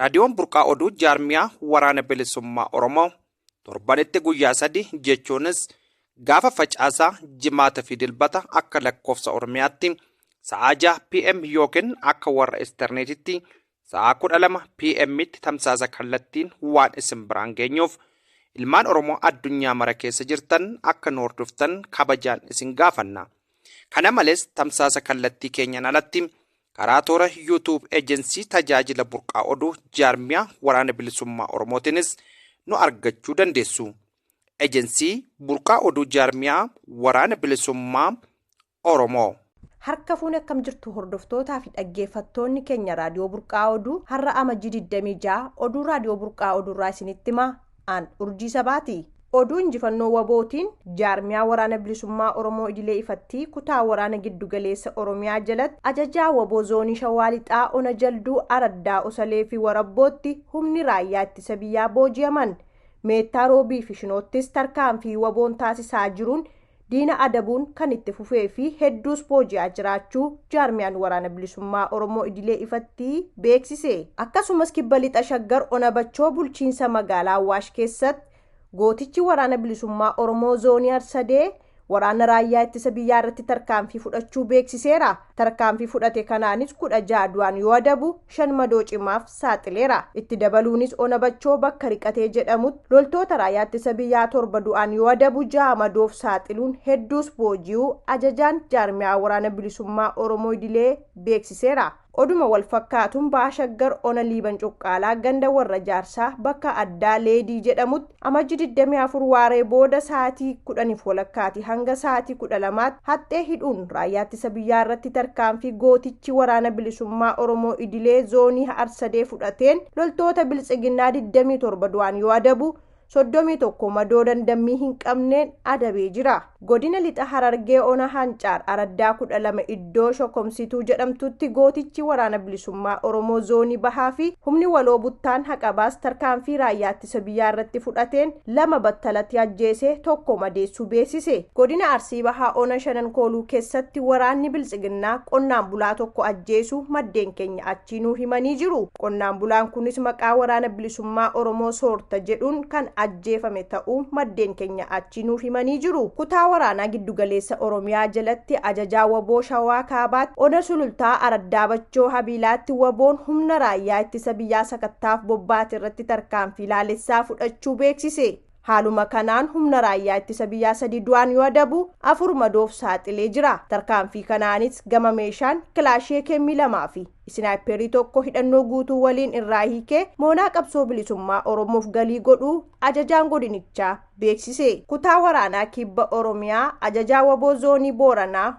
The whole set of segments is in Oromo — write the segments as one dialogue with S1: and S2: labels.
S1: Raadiyoon Burqaa Oduu jaarmiyaa waraana bilisummaa Oromoo torbanitti guyyaa sadi jechuunis gaafa facaasaa jimaata fi dilbata akka lakkoofsa Oromiyaatti sa'aa 6 PM yookiin akka warra isterneetitti sa'aa 12 PMtti tamsaasa kallattiin waan isin biraan geenyuuf ilmaan Oromoo addunyaa mara keessa jirtan akka nu hordoftan kabajaan isin gaafanna. Kana malees tamsaasa kallattii keenyaan alatti Karaa toora YouTube Ejensii Tajaajila Burqaa Oduu Jaarmiyaa Waraana Bilisummaa Oromootiinis nu argachuu dandeessu. Ejensii Burqaa Oduu Jaarmiyaa Waraana Bilisummaa Oromoo. Harka fuune
S2: akkam jirtu hordoftootaa fi dhaggeeffattoonni keenya Raadiyoo Burqaa Oduu har'a Amajjii 26 oduu Raadiyoo Burqaa Oduurraa isinitti himaa An Urjii Sabaati. Oduu Injifannoo wbo tiin Jaarmiyaa Waraana Bilisummaa Oromoo Idilee Ifattii Kutaa Waraana Giddu Galeessa Oromiyaa jalatti Ajajaa wbo Zoonii Shawaa Lixaa Ona Jalduu Araddaa Osalee fi Warabbootti humni Raayyaa Ittisa Biyyaa booji'aman. Meettaa Roobii fi Shinoottis tarkaanfii wbo n taasisaa jiruun diina adabuun kan itti fufee fi hedduus booji'aa jiraachuu Jaarmiyaan Waraana Bilisummaa Oromoo Idilee ifatti beeksise. Akkasumas Kibba Lixa Shaggar Ona Bachoo Bulchiinsa Magaalaa Awwaash keessatti gootichi Waraana Bilisummaa Oromoo Zoonii Arsadee waraana Raayyaa Ittisa Biyyaa irratti tarkaanfii fudhachuu beeksiseera. Tarkaanfii fudhate kanaanis 16 du'aan yoo adabu, shan madoo cimaaf saaxileera. Itti dabaluunis Ona Bachoo bakka Riqatee jedhamutti loltoota Raayyaa Ittisa Biyyaa torba du'aan yoo adabu, ja'a madoof saaxiluun hedduus booji'uu Ajajaan Jaarmiyaa Waraana Bilisummaa Oromoo Idilee beeksiseera. Oduma wal fakkaatuun Baha Shaggar Ona Liiban Cuqqaalaa ganda Warra Jaarsaa bakka addaa Leedii jedhamutti Amajji 24 waaree booda sa'aatii 10f walakkaati hanga sa'aatii 12tti haxxee hidhuun Raayyaa Ittisa Biyyaa irratti tarkaanfii gootichi Waraana Bilisummaa Oromoo Idilee Zoonii Harsadee fudhateen loltoota Biltsiginnaa 27 du'aan yoo adabu, 31 madoo dandammii hin qabneen adabee jira. Godina Lixa Harargee Ona Hancaar Araddaa 12 iddoo Shokomsituu jedhamtutti gootichi Waraana Bilisummaa Oromoo Zoonii Bahaa fi humni waloo Buttaan Haqabaas tarkaanfii Raayyaa Ittisa Biyyaa irratti fudhateen lama battalatti ajjeesee tokko madeessuu beeksise. Godina Arsii Bahaa Ona Shanan Kooluu kessatti waraanni Biltsiginnaa qonnaan bulaa tokko ajjeesuu maddeen keenya Chinuu himanii jiru. Qonnaan bulaan kunis maqaa Waraana Bilisummaa Oromoo soorta jedhuun kan ajjeefame ta'uu maddeen keenya achii nuuf himanii jiru. Kutaa Waraanaa Giddugaleessa Oromiyaa jalatti Ajajaa wbo Shawaa Kaabaatti Ona Sulultaa Araddaa Bachoo Habiilaatti wboon humna raayyaa ittisa biyyaa sakattaaf bobbaate irratti tarkaanfii laalessaa fudhachuu beeksise. Haaluma kanaan humna raayyaa ittisa biyyaa sadii du'aan yoo adabu afur madoof saaxilee jira. Tarkaanfii kanaanis gama meeshaan kilaashii AKM lamaa fi isinaayippeerii tokko hidhannoo guutuu waliin irraa hiikee moonaa qabsoo bilisummaa Oromoof galii godhuu ajajaan godinichaa beeksise. Kutaa waraanaa kibba Oromiyaa ajajaa waboo zoonii Booranaa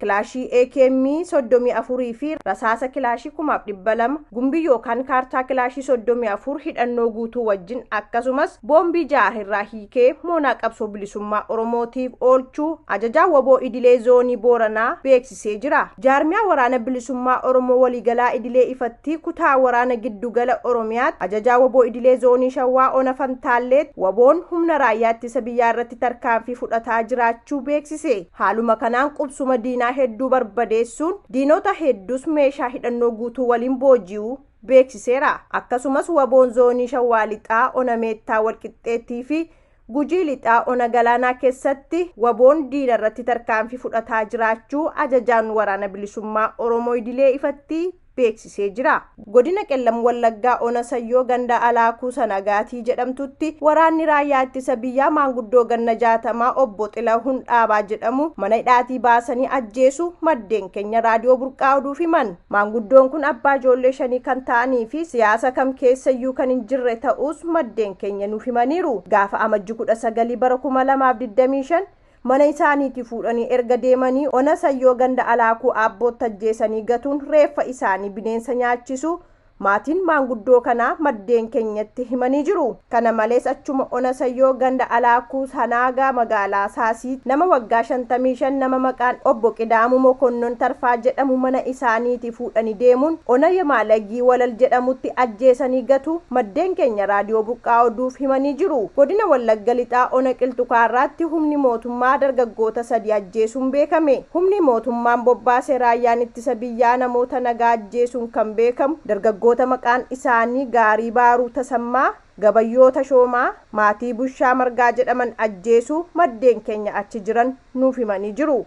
S2: kilaashii AKM 34 fi rasaasa kilaashii 2,200, gumbii yookaan kaartaa kilaashii 34 hidhannoo guutuu wajjin akkasumas boombii 6 irraa hiikee moonaa qabsoo bilisummaa Oromootiif oolchuu Ajajaa wbo Idilee Zoonii Booranaa beeksisee jira. Jaarmiyaa Waraana Bilisummaa Oromoo Waliigalaa Idilee Ifattii Kutaa Waraana Giddu Gala Oromiyaatti Ajajaa wbo Idilee Zoonii Shawaa Ona Fantaalleetti wboon humna Raayyaa Ittisa Biyyaa irratti tarkaanfii fudhataa jiraachuu beeksise. Haaluma kanaan qubsuma diinaa hedduu barbadeessuun diinota hedduus meeshaa hidhannoo guutuu waliin booji'uu beeksiseera. Akkasumas waboon zoonii Shawaa Lixaa ona Meettaa Walqixxeettii fi Gujii Lixaa ona Galaanaa keessatti waboon diina irratti tarkaanfii fudhataa jiraachuu ajajaan waraana bilisummaa Oromoo idilee ifatti beeksisee jira. Godina Qellam Wallaggaa Ona Sayyoo ganda Alaakuu Sanagaatii jedhamtutti waraanni raayyaa ittisa biyyaa maanguddoo ganna jaatamaa obbo Xilahun Dhaabaa jedhamu mana hidhaatii baasanii ajjeesu maddeen keenya Raadiyoo Burqaa Oduuf himan. Maanguddoon kun abbaa ijoollee shanii kan ta'anii fi siyaasa kam keessayyuu kan hin jirre ta'uus maddeen keenya nuuf himaniiru. Gaafa Amajji 19 bara 2025 Mana isaaniitii fuudhanii erga deemanii ona Sayyoo ganda Alaakuu Aabbootti ajjeesanii gatuun reeffa isaanii bineensa nyaachisuu maatiin maanguddoo kanaa maddeen keenyatti himanii jiru. Kana malees achuma ona Sayyoo ganda Alaakuu Sanaagaa magaalaa Saasiitti nama waggaa 55 nama maqaan Obbo Qidaamuu Mokonnon Tarfaa jedhamu mana isaaniitii fuudhani deemuun ona Yemaalagii Walal jedhamutti ajjeesanii gatu maddeen keenya Raadiyoo Burqaa Oduuf himanii jiru. Godina Wallagga Lixaa ona Qilxu Kaarraatti humni mootummaa dargaggoota sadii ajjeesuun beekame. Humni mootummaan bobbaase Raayyaan Ittisa Biyyaa namoota nagaa ajjeesuun kan beekamu dargaggoota maqaan isaanii Gaarii Baaruu Tasammaa, Gabayyoo Tashoomaa, Maatii Bushaa Margaa jedhaman ajjeesuu maddeen keenya achi jiran nuuf himanii jiru.